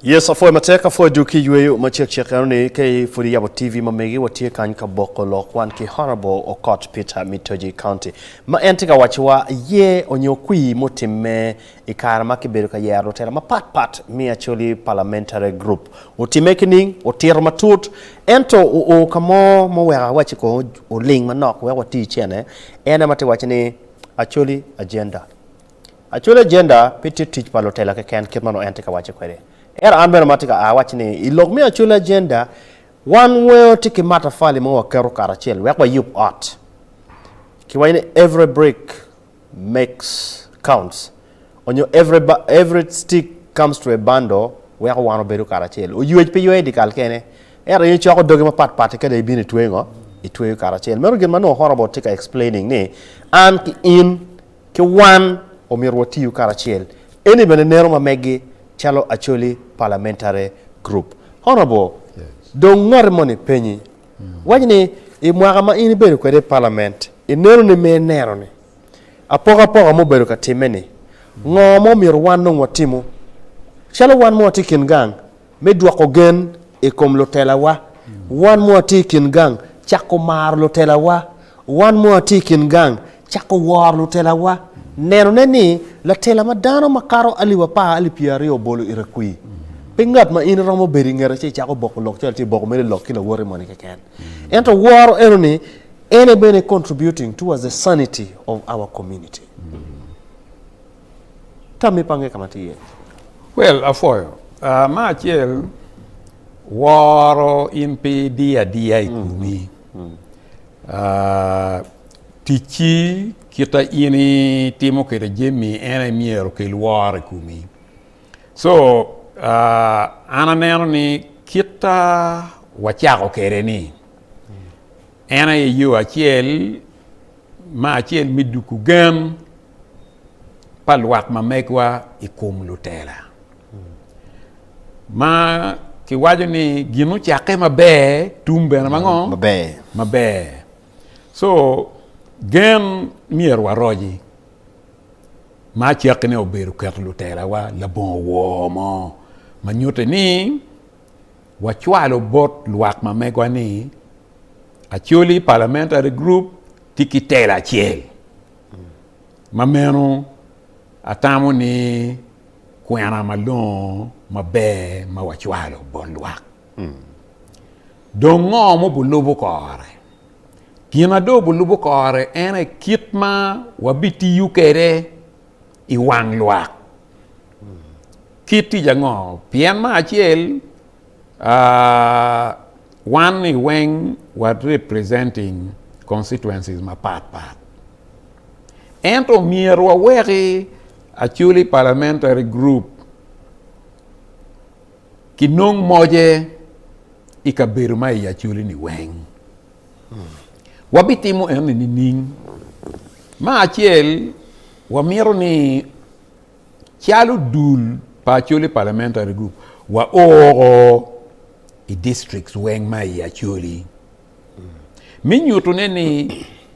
Yes, apwoyo matek, apwoyo dul ki yweyo ma cek cek eno ni ka i pud iyabo TV ma megi watye kany ka boko lok wan ki Honourable Okot Peter Mitoji County ma en tye ka waciwa ye onyo kwii mutimme i kare ma ki bedo ka yero lutela ma pat pat mi Acholi Parliamentary Group otimme ki ning otito ma tut ento o o ka mo ma oweko awaci ko oling manok wek wati icene en ema tye waci ni Acholi Agenda Actually agenda pe tye tic pa lutela keken kit ma nongo en tye ka wacce kwede. Ento an bene ma atye ka a awacci ni i lok me actually agenda wan weo tye ki matafali ma waketo karacel wek wayub ot. Kiwaco ni every brick makes counts onyo every, every stick comes to a bundle weko wan obedo karacel. Oywec pe ywee dikal kene. Ento in icoko dogi mapat pat kede ibino itweyo ngo? Itweyo karacel. Meno gin ma nongo Horrible tye ka explaining ni an ki in Ki wan, omyero watiyu karacel. Eni bene neno ma meggi calo Acholi Parliamentary Group. Honourable, dong ngotti moni penyi, waci ni i mwaka ma in ibedo kwede i Parliament, i nenoni ma ineno ni, apokapoka ma obedo ka timme ni, ngo ma omyero wan dong watimu calo wan ma watye i kin gang Me dwoko gen i kom lutelawa, wan ma watye i kin gang cako maro lutelawa. Wan ma watye i kin gang cako woro lutelawa, nenone ni latela ma dano makato alip apar, alip pyeraryo obolo ite kwi. Pe ngat ma in iromo bedo i ngete ci icako boko lok calo tye boko mere lok ki lawote moni keken. Ento woro enoni en aye bene contributing towards the sanity of our community. Tammi pa nge ka ma atye iye. Well, apwoyo. Ah, me acel, woro in pe diyo adiya i komi. Ah, ticci kita in itimo kwede jami en aye myero okel woro i komi. So, ah, an aneno ni kita wacako kwede ni en aye yo acel, me acel me duku gen pa lwak ma megwa i kom lutela. Ma kiwaco ni gin ocakke maber, tum bene mango? Maber. Maber. So, gen myero waroji. Ma cakke ne obedo keto lutelawa labongo woo mo ma nyutte ni wacwalo bot lwak ma megwa ni Acholi Parliamentary Group tye ki tela acel. Ma meno, atamo ni kwena malongo maber ma wacwalo bot lwak. Dong ngo ma obulubo kore? Gin ma dong obulubo kore en aye kit ma wabitiyo kwede i wang lwak. Kit tic ango? Pien me acel, wan ni weng wa representing constituencies mapat pat ento myero waweki Acholi parliamentary group ki nong moje i kabedo ma i Acholi ni weng wabitimo eno ni nining ma acel wamito ni calo dul pa Acholi Parliamentary Group, waoko i districts weng ma i Acholi me nyutune ni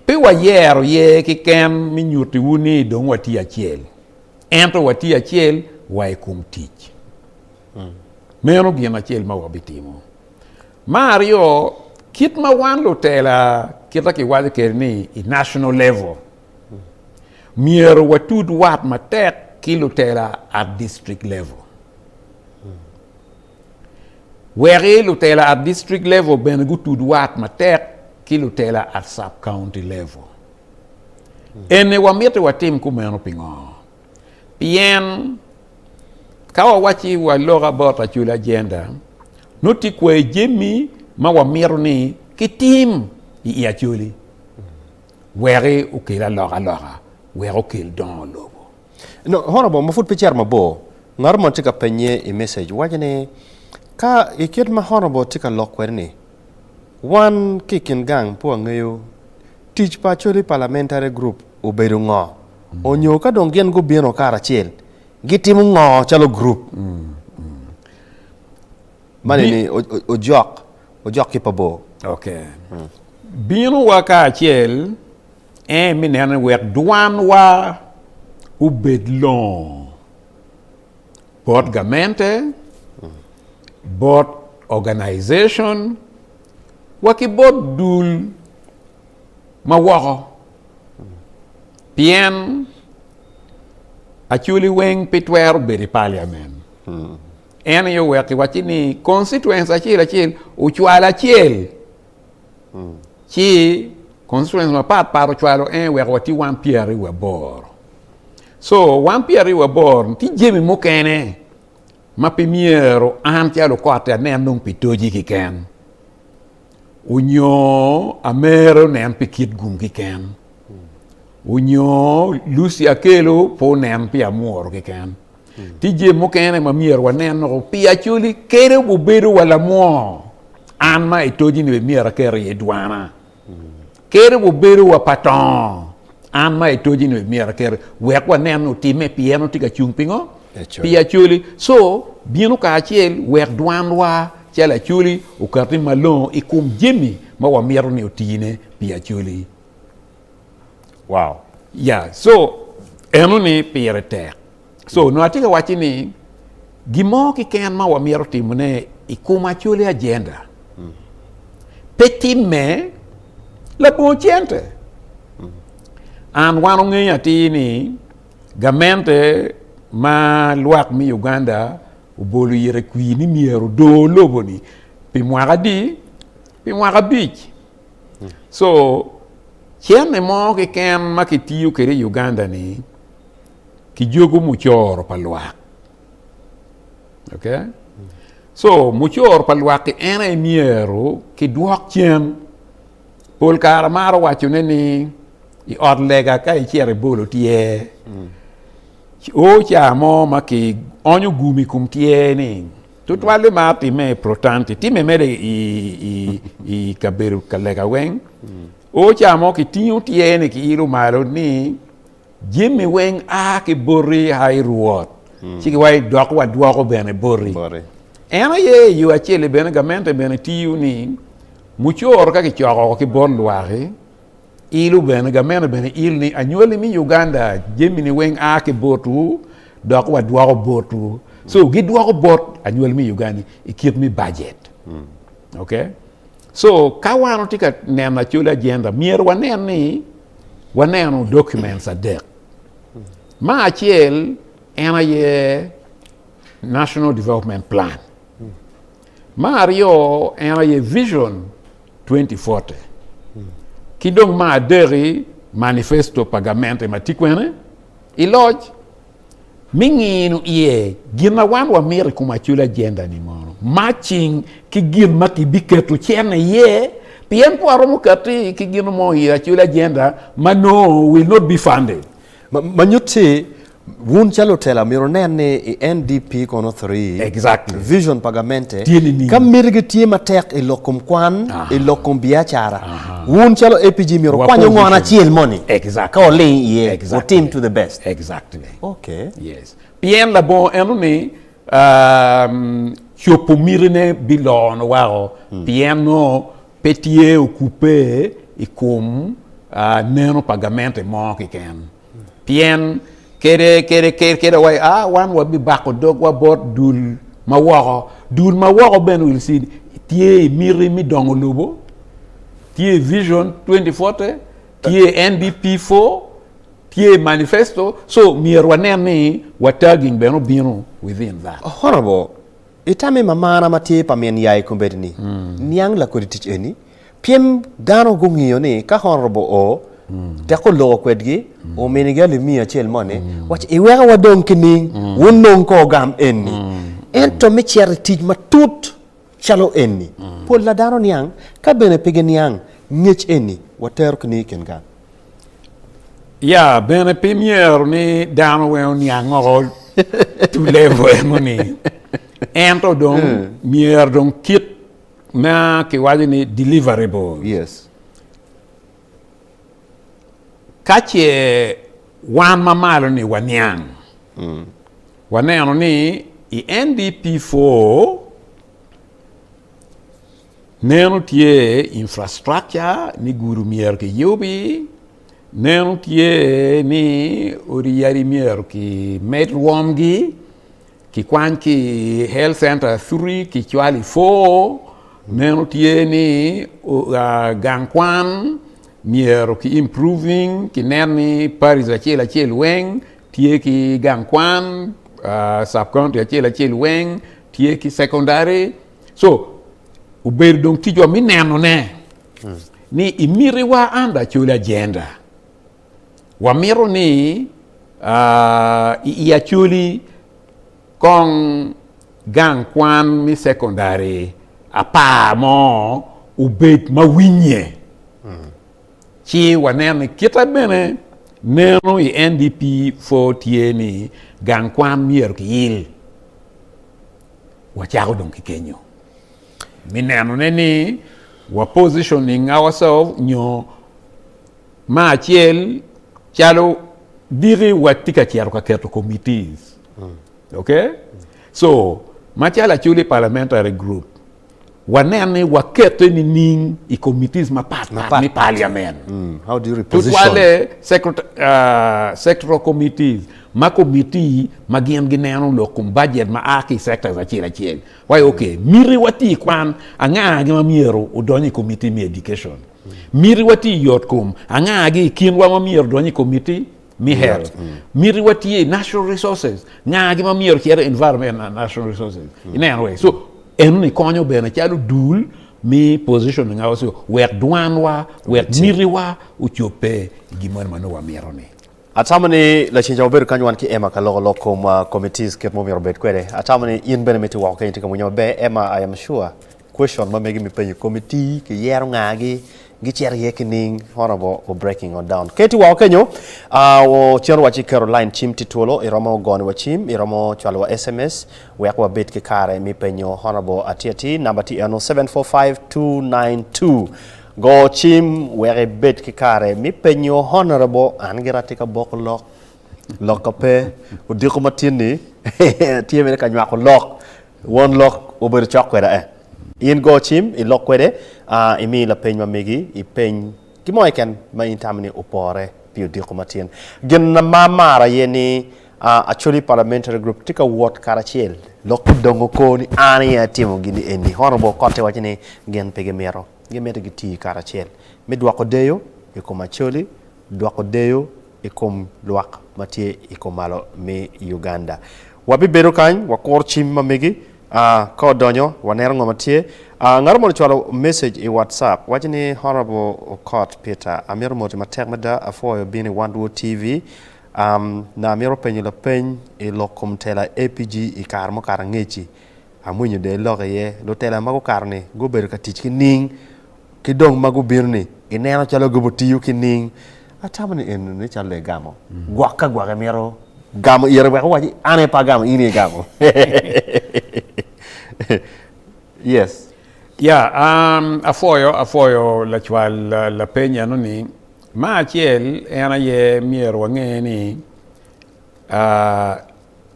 pe wayero ye kiken me nyutiwu ni dong watye acel, ento watye acel wa i kom tic. Meno gin acel ma wabitimo. Ma aryo, kit ma wan lutela kita kiwaco kede ni i national level, Myero watud wat matek ki lutela at district level. Weki lutela at district level bene gutud wat matek ki lutela at sub county level. Eni wamiti watim kumeno pingo? Pien ka wawacci wa look about Acoli agenda, nut tye kwai jemi ma wamito ni kitim i Acoli. Weki okel alokaloka wek okel dongo lobo. Nongo Horobom ma pud pe cito mabor, ngato mo tye ka pennye i message, waco ni, Ka i kit ma Horobom tye ka lok kwede-ni, wan ki i kin gang pe wangeyo tic pa Acholi Parliamentary Group obedo ngo, onyo ka dong gin gubino karacel gitimo ngo calo group. Mani ni ojok, ojok ki pa bor. Ok. Bino wa kacel en mi neno wek dwan wa obed longo bot gamente, bot organization wa ki bot dul ma woko. Pien Acholi weng pi twero bedo i parliament. En aye oweko kiwacci ni constituency acel acel ocwalo acel hmm. ci constituency mapat pat ocwalo en eh, weko watye wan pyer aryo waboro so wan pyer aryo waboro tye jemi mukene ma pi myero an calo kotte anen nong pi toji kiken onyo amero nen pi kit gum kiken hmm. onyo lusi akelo po nen pi amworo kiken Tije mukene ma myero wanen woko pi Acholi kede gubedo wa lamwoo. An ma i toji ni bene myero aker iye dwana. Kede gubedo wa pa tongo. An ma i toji ni bene myero aker wek wanen otime pi en otye ka cung pingo? Pi Acholi. So bino kare acel wek dwanwa calo Acholi okati malongo i kom jami ma wamito ni otine pi Acholi. Wow. Yeah, so eno ni pire tek. So nongo atye ka wacci ni gin mo kiken ma wamyero timone i kom acoli agenda mm. pe timme labongo cente. Mm. An wan ongeyo atir ni gamente ma lwak me Uganda obolo ire kwi ni myero do lobo ni pi mwaka di pi mwaka abic so cene mo keken ma kitiyo kwede i Uganda ni kijogo mucoro pa lwak okay so mucoro pa lwak ki en aye myero kidwok cen pol kare amaro wacone ni i ot lega ka icito ibolo tyer o ca mo ma kionyo gum i kom tyer ni Tutwali ma timme i Protanti timme mere i kabedo ka lega weng. O ca mo ki tingo tyer ni ki ilo malo ni jemi weng a ki boti a i Rwot, hmm. ci wa dok wa dwoko bene boti. En aye i yo acel bene gamente bene tiyo ni mucoro ka ki coko ki bot lwaki. Ilu bene, gameno bene il ni anywali imi Uganda jamini weng a ki botwu dok wadwoko botwu. So gidwoko bot anywali mi Uganda i kit mi bajet. Ok? So ka wan otye ka neno acoli agenda myero wanen ni waneno documents adek. Ma acel en aye National Development Plan. Me aryo en aye Vision 2040 ki dong me adeki Manifesto pa gamente ma tye kwene i loc me ngino iye gin ma wan wamito i kom acoli agenda ni mono matching ki gin ma kibiketo cene iye pien ka waromo kati ki gin mo i acoli agenda ma no will not be funded. Ma nyutti Wun calo otelo amyero wunen ni i NDP kono three Exactly. vision pa gamente Tye nining? ka mitigi tye matek i lok kom kwan, i lok kom biacara, wun calo APG myero Wa wukwany ongono position. acel moni Exactly. ka wuling iye Exactly. wutim to the best. Exactly. Okay. Yes. Pien labongo eno ni um, copo mitine bilono wako pien nongo pe tye okubbe i kom ah, neno pa gamente mo kiken. Pien kede, kede, kede, kede wa, a, wan wabibako dogwa bot dul ma woko. Dul ma woko bene wil cid tye i miti me dongo lobo, tye i Vision 2040, tye i NDP 4, tye i manifesto, so myero wanen ni wa tagging bene obino within that. Honorable, itammi mamana ma tye pa min yai kombeddi ni, niang lakodi tic eni, Pien dano gungiyo ni ka Honorable O tek oloko kwedgi, ominigi alimiya acel mo ni, waco, iweka wadong ki ning, wunong kor gam eni. Ento me cito i tic matut calo eni, pol na dano niang, ka bene pe giniang ngec eni, watero ki ning i kin gang. Ya, bene pe imyero ni dano weng oniang oko to level eno ni. Ento dong myero dong kit. ma kiwaco ni deliverables. Yes. Ka ce wan ma malo-ni waniang, mm. waneno ni i NDP 4 neno tye infrastructure ni gudu myero kiyubi, neno tye ni odi yadi myero kimed rwomgi, Kikwany ki i Health Centre Acuti kicwalo i Foo, meno tye ni gang kwan myero ki improving ki nen ni Parish acel acel weng tye ki gang kwan, Sub County acel acel weng tye ki Secondary so obedo dong ticwa me nenone ni imitiwa under Acholi agenda. Wamito ni i Acholi kong gang kwan me sekondari apar mo obed ma winye, ci wanen ni kite bene neno i NDP 4 tye ni gang kwan myero kiyil. Wacako dong ki kenyo me nenone ni wa positioning ourselves nyo Ma acel calo diki wa tye ka cito ka keto committees ok so ma calo aculi parliamentary group wa nen ni wa kete ni ning i committees ma pat pat me parliament tutwale sectoral committees ma committee ma gin gi neno lok kom budget ma aa ki sectors acel acel wa ok miti wa tye kwan anga agi ma myero odony i committee me education. Mitiwa tye i yotkom angagi i kinwa ma myero odony i komiti me health. Mm. Mitiwa tye i natural resources ngagi ma myero cito environment and natural resources. Mm. Ineno wee. So eno ni konyo bene calo dul me positioning ourselves wek dwanwa, wek mitiwa ocobbe i gin moni ma nongo wamito ni. Atamo ni lacinca wabedo kany wan ki Emma ka loko lok kom uh, committees kit ma omyero obed kwede. Atamo ni in bene miti woko kenyo tye ka winyo maber. Emma, I am sure Question ma mege mi penyo committee ki yero nga gi gi cito iye ki ning honorable o breaking on down keti woko kenyo ahh o cito wa ci keto line cim ti twolo iromo goni wa cim iromo cwalo wa sms wek wa bed ki kare mi penyo honorable atir atir number ti eno 745292 go cim wek ibed ki kare mi penyo honorable an gira ati ka boko lok lok ka pe odiko ma tin ni atir mere ka nywako lok Won lok obedo cok kweda eh. In go cim ilok kwede a imi lapeny ma megi ipeny ki mo keken ma in itamo ni opore pi odiko matin. Gin ma amaro aye ni a Acholi Parliamentary Group tye ka wot karacel. Lok pud dong oko ni an aye atimo gini eni. Honourable Okotti waco ni gin pe gimito. Gimito gitii karacel me dwoko deyo i kom Acholi dwoko deyo i kom lwak ma tye i komalo me Uganda. Wabibedo kany, wakuro cim ma megi, ka odonyo waneno ngo ma tye. Ngat mo ni cwalo message i WhatsApp waco ni Honourable Okot Peter amito moti matek mada apwoyo bino i One World TV na amito penyo lapeny i lok kom tela APG i kare mukato angeci. Amwinyo dong ilok iye. Lutela ma gukato-ni gubedo ka tic ki ning, ki dong ma gubino-ni gineno calo gubitiyo ki ning. Atamo ni enoni calo egamo gwok ka gwok emito gamo ite wek owac ni, 'An aye pe agamo, in aye igamo. Yes. Ya, apwoyo, apwoyo lacwal lapeny enoni. Ma acel en aye myero wange ni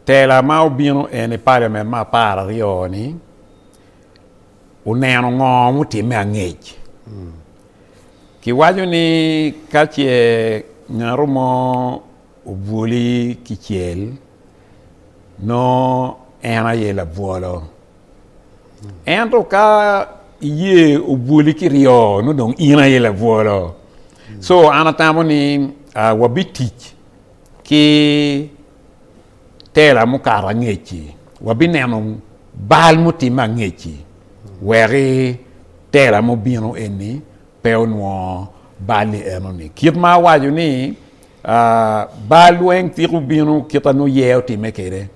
Tela ma obino eni paliament me apar aryo ni oneno ngo mutimme angec. Ki waco ni ka ce ngato mo obwoli ki cel nongo en aye labwolo ento ka iye obwoli ki ryo nongo dong in aye labwolo so an atamo ni wabitic Ki tela mukato angec-ci, wabineno bal mutimme angec-ci weki tela mubino eni pe onwongo bal-li enoni. Kit ma awaco ni bal weng ciko bino kit ma nongo yer otimme kede.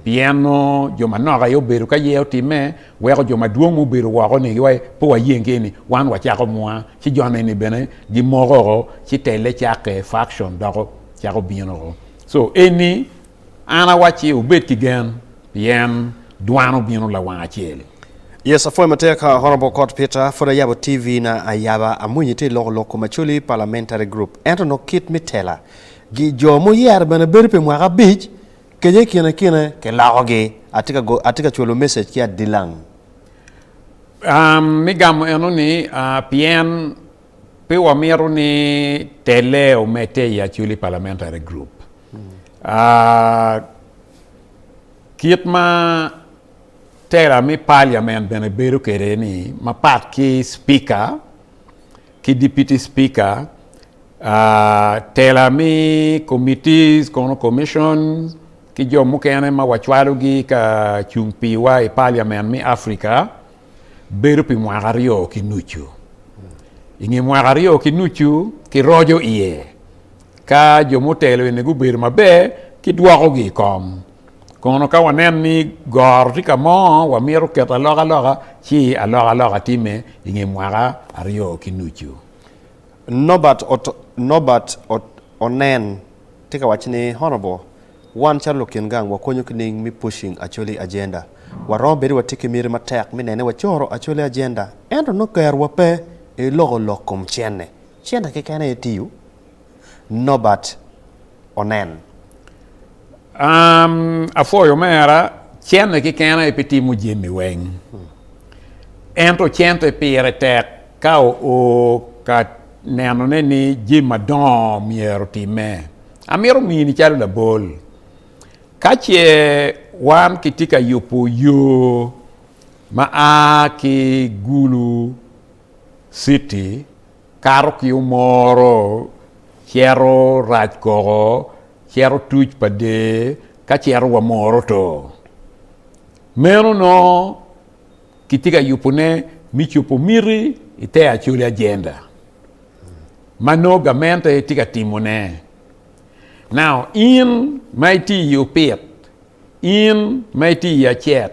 Pien nongo jo manok aye obedo ka ye otimme, weko jo madwong ma obedo woko-ni giwaco ni, 'Pe wayeng ki eni, wan wacako mwa. Ci jo ni bene gimoko-o, ci telle cakke, faction, doko cako bino-o. Co eni, an awacci, wubed ki gen, pien dwano bino lawang acel. Yes apwoyo matek Honourable Kot Peter, pud ayabo TV na ayaba amwinyo itye loko lok kom Acholi Parliamentary Group ento nongo kit me tela gi jo ma oyero bene bedo pi mwaka abic, Kenya i kine kine ki loko gi. Atye ka go atye ka cwalo message ki adilang. Um, me gamo eno ni, uh, pien pe wamito ni tele omedte i Acholi Parliamentary Group. Uh, kit ma tela me Parliament bene bedo kede ni, mapat ki Speaker, ki Dipiti Spika, tela mi komitis kono commission ki jo mukene ma wacwalogi ka cung piwa i Paliament mi Africa bedo pi mwaka aryo ki nucu. I nge mwaka aryo ki nucu kiroco iye ka jo mutelo eni gubedo maber kidwokogi i kom. Kono ka waneno ni goro tye ka mo wamito keto alokaloka ci alokaloka timme i nge mwaka aryo ki nucu. Norbert Onen tye ka waco ni, Honorable, wan calo lukin gang wakonyo ki nining me pushing Acholi agenda? Waromo bedo ni watye ki miti matek me neno ni wacoro Acholi agenda ento nongo kerowa pe i loko lok kom cente. Cente keken aye tiyo? Nobert onen. Apwoyo omera, cente keken aye pe timo jami weng. Ento cente pire tek ka oo ka nenone ni jami madongo myero otimme. Amito mini calo labol, ka ce wan kitye ka yubo yo ma a ki Gulu, City kato ki omoro cito rac koko cito tuc pa der ka cito wa moro to. Meno nongo kitye ka yubo ne mi cubo miti i te Acholi agenda ma nongo gamente tye ka timo ne. Now in ma itye i opit, in ma itye i acet,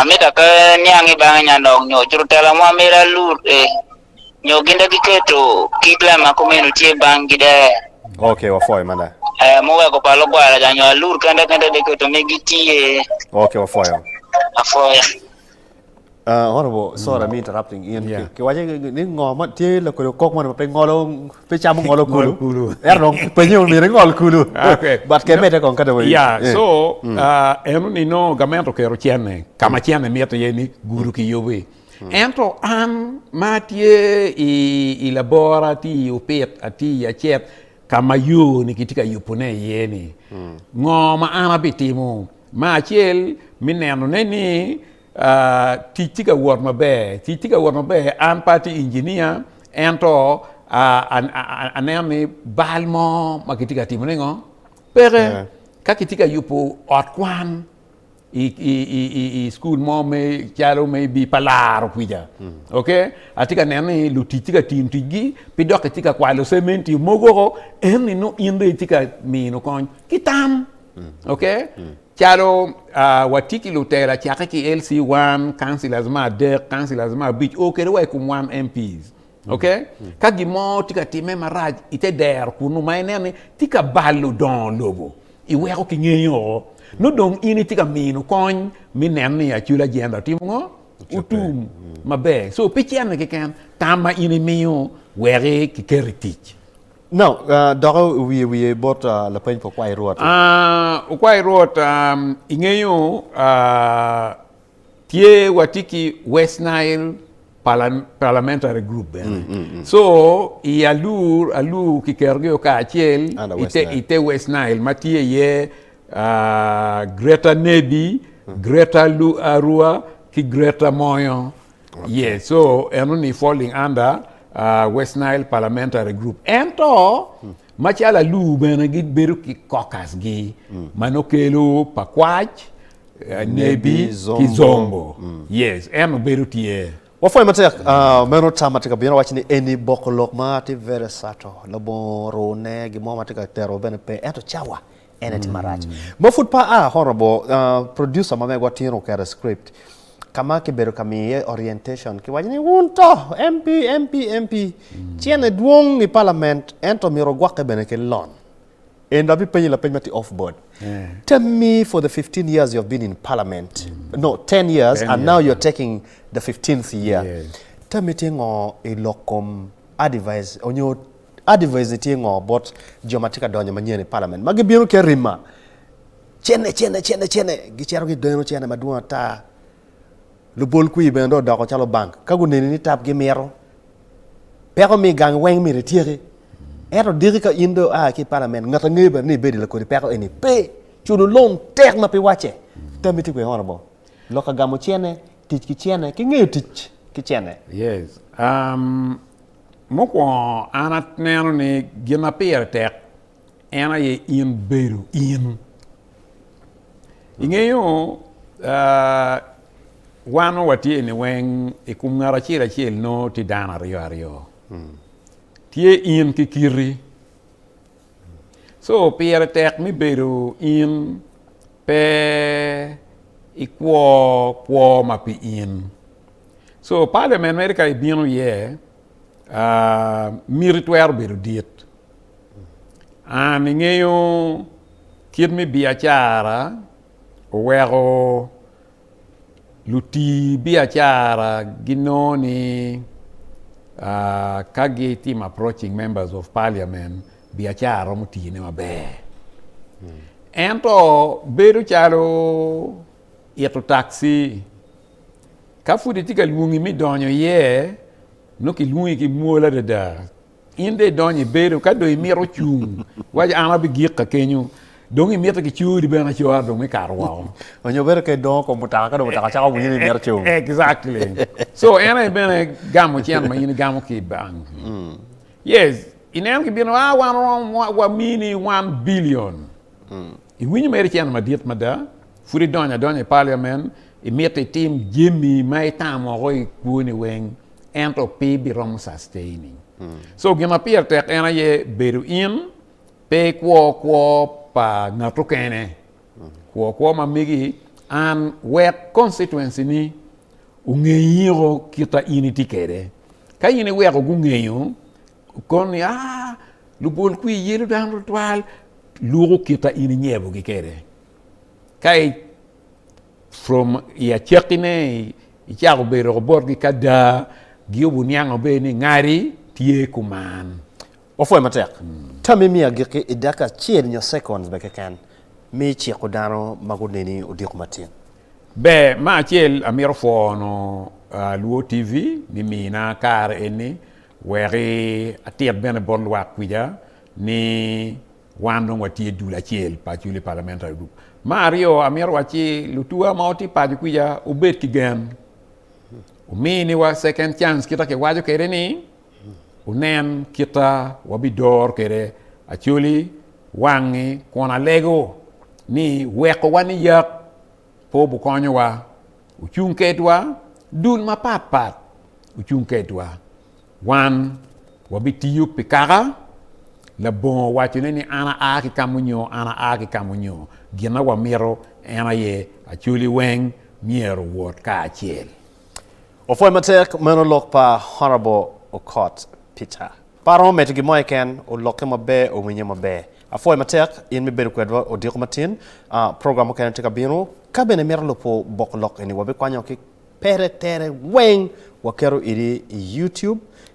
Amita pe niang i bange nya nok nyo cuto tela mo amito alute nyo gin de giketo kit lem ma kumeno tye bang gi de. Okay wapwoyo mada. Eh muweko pa lugwara ca nyo alut kende kende de keto me gitye. Okay wapwoyo. Apwoya. Uh, Honorable, sorry me interrupting in. Yeah. Ki- Kiwace ni ngo ma tye lakodi okok moni ma pe ngolo pe camo ngolo kulu Ngol kulu. ento dong penye wun myero ingol kulu Ah, okay. but ke mede kong ka dong ya eh. so ah, eno ni nongo gament okero cene ka ma cene mito iye ni gudo ki yubi ento an ma atye i, i labora atye i opit atye i acet ka ma yo ni kitye ka yubone iye ni ngo ma an abitimo ma acel me nenone ni Tic tye ka wot maber. Tic tye ka wot maber. An pe atye injinia ento aneno ni bal mo ma kitye ka timone ngo peke. Ka kitye ka yubo ot kwan i cukul mo calo me bii pa laro kwica ok atye ka neno ni lutic tye ka tiyo ticgi ki dok kitye ka kwalo cementi mogo woko ento nongo in dong itye ka mino kony ki tam ok. Calo watye ki lutela cakke ki LC one, councillors me adek, councillors me abic oo kede wa i kom wan MPs ok ka gin mo tye ka timme marac i te dero kunu ma ineno ni tye ka balo dongo lobo i weko ki ngeyo oo nongo dong in itye ka mino kony me neno ni acul agenda otimo ngo otum maber so pe cene keken tam ma in imiyo weko ki keto i tic. No. Doki wiye wiye bot lapeny pa okwayi Rwot. Okwayi Rwot, ingeyo tye watye ki West Nile Parliamentary Group bene. So i alur alur kiketogi o kacel i te West Nile ma tye iye Greater Nebbi, Greater Arua ki Greater Moyo. Yeah, so eno ni falling under uh, West Nile Parliamentary Group. Ento macalo aluu bene gibedo ki caucusgi mm. ma nokelo pa kwac, uh, nebi ki zombo. Mm. Yes, en obedo tye. Wapwony matek uh, meno tam ma tye ka bino waco ni eni boko lok ma tye very subtle labongo rune gin mo ma tye ka tero bene pe ento cawa En aye tim marac ma pud pe aa. Horrible producer ma megwa tin oketo script ka ma kibedo ka miyo iye orientation. Kiwaco ni, Wun to, MP, MP, MP, cene dwong i palament, ento myero ogwokke bene ki lon. And abipenyi lapeny ma tye off board. Tell me for the fifteen years you have been in parliament, no, ten years and now you're taking the fifteenth year, tell me tye ngo i lok kom. Adivaiz onyo Adivaiz-ni tye ngo bot jo ma tye ka donyo manyen i palament ma gibino ki arima cene cene cene cene gicito ki geno cene madwong ata. Lubol kwir bene dong odoko calo bank ka guneni ni tap gimito peko mi gang weng myero ityeki ento diki ka in dong aa ki i palament ngat angeyo bene ni ibedi lakodi peko eni pe. Culo loan tek ma pi wacce. Tammi tye kwene honorable? Lok ka gamo cene. Tic ki cene ki ngeyo tic ki cene. Yes um mukwongo an aneno ni gin ma pire tek en aye in bedo in. Ingeyo uh, wan ma watye ni weng i kom ngat acel acel nongo tye dano aryo aryo. Tye in ki kiti, So pire tek me bedo in pe ikwo kwo ma pi in. So parliament mere ka ibino iye miti twero bedo dit. An ingeyo kit me biacara oweko Luti biacara ginongo ni ka gitimo approaching members of parliament biacara romo tine maber. Ento bedo calo ito taxi ka pud itye ka lwongi me donyo iye nongo kilwongi ki mwol adada In dong idonyo i bedo ka dong imito cung, waci an abigikka kenyo. Dong imito kicori bene acora dong me kato woko. Onyo bedo ka idongo kom mutoka ka dong mutoka cako bunyi ni mito cung. Exactly. So en aye bene gamo cen ma in igamo ki i bank. Yes, ineno kibino, ah wan oromo wamini one billion. Iwinyo mere cen madit mada, pud idonyo adonya i parliament, imito itim jami ma itamo woko i kwoni weng. ento pe ibiromo sustaining. So gin ma pire tek en aye bedo in pe ikwo kwo pa ngat okene, kwo kwo ma megi an wek constituency ni ongeyiko kita in itye kede. Ka in iweko gungeyo kon ni aa lubol kwi yelo dano tutwal luko kita in inyebogi kede ka From i acakkine, icako bedo woko botgi ka daa, Giyobo oniango bene ni ngati tye kuman. Wapwoye matek. Tam imiyo agikki i dakika acel nyo seconds bene keken me iciko dano ma guneni odiko matin. Ber, me acel amito pwono Luo TV ni mina kare eni wek atit bene bot lwak kwica ni. Wan dong watye dul acel pa Acholi Parliamentary Group. Me aryo, amito wac ci lutuwa ma watye paco kwica obed ki gen. Wumi ni wa second chance kita kiwaco kede ni wunen kita wabidoro kede Acholi wangi kun alego ni weko wa ni yak pe obukonyo wa. Wucung kedwa dul mapat pat wucung kedwa. Wan wabitiyo pi kaka labongo wacone ni an aa ki ka munyo, an aa ki ka munyo. Gin ma wamito en aye Acholi weng myero owot kacel. Opwoc matek meno lok pa Honourable Okot Peter. Pe aromo medo gin mo keken, olokke maber, owinye maber. Apwoyo matek in me bedo kwedwa odiko matin. Program mukene tye ka bino. Ka bene imito lubo bok lok eni, wabikwanyo ki pere tere weng waketo idi i YouTube.